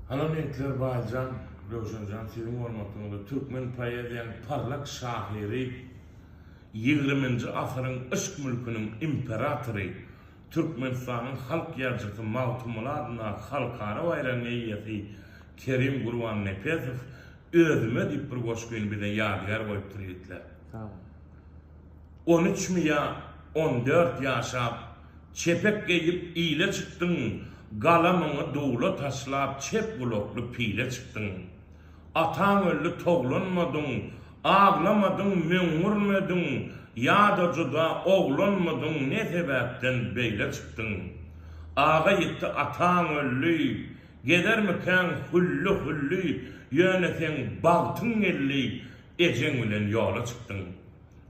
Alameýtler Baýjan, Röwşenjan siziň hormatyňyza türkmen poeziýanyň parlak şahyry, ýigriminji asyryň yşk mülküniň imperatory, Türkmenistanyň halk ýazyjysy Magtymguly adyndaky halkara baýragyň eýesi Kerim Gurbannepesow Özüme diýip bir goşgyny bize ýadygär goýupdyr ýigitler. On üç mi ýa on dört ýaşap. Çepek geýip ile çykdyň, Galamyňy dula taşlap çep gulakly pile çykdyň. Ataň öldi toglanmadyň, Aglamadyň möňňürmediň, Ýa-da juda oglanmydyň Ne sebäpden beýle çykdyň. Aga ýitdi ataň öldi, Gezermikäň hülli-hülli, Ýöne seň bagtyň geldi, Ejeň bilen ýola çykdyň.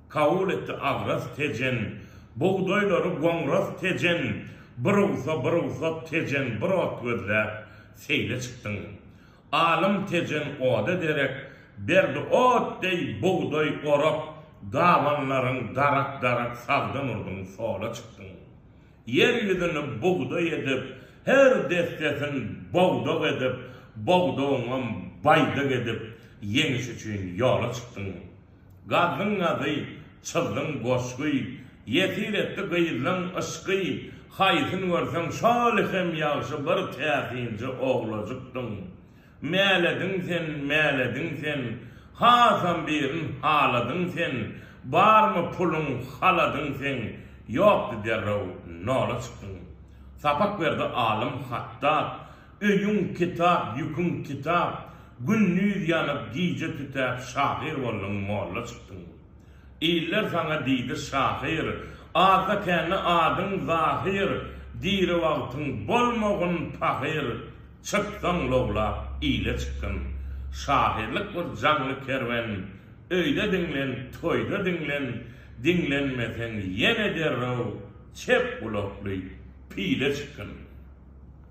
Kabul etdi agras Tejen. Bugdaýlary goňras Tejen. Bir ugsa, bir ugsat Tejen, bir ot gözläp, seýle çykdyň. Alym Tejen oda derek, berdi ot deý bugdaý orak, dabanlaryň darak-darak sagdan urduň, sola çykdyň. Ýer ýüzüni bugdaý edip, her dessesin bogdag edip, bogdagyňam baýdak edip, ýeňiş üçin ýola çykdyň. Gazzyň nazy, çyldyň goşgy, Ýesir etdi gyzlaň yşky. Haýsyn görseň şol hem ýagşy Bir täsinji oglajykdyň. Mälediň sen, mälediň sen, Hasam birin haladyň sen. Barmy puluň, haladyň seň, Ýokdy derrew nola çykdyň. Sapak berdi alym Hatdap, Öýüň kitap, ýüküň kitap, Gündiz ýanyp, gije tütäp, Şahyr bolduň, molla çykdyň. Iller saňa diýdi şahyr, Azda-kände adyň Zahyr, Diri wagtyň bolmagyn pahyr, Çyksaň lowlap, ile çykgyn. Şahyrlyk bir jaňly kerwen, Öýde diňlen, toýda diňlen, Diňlenmeseň, ýene derrew Çep gulakly pile çykgyn.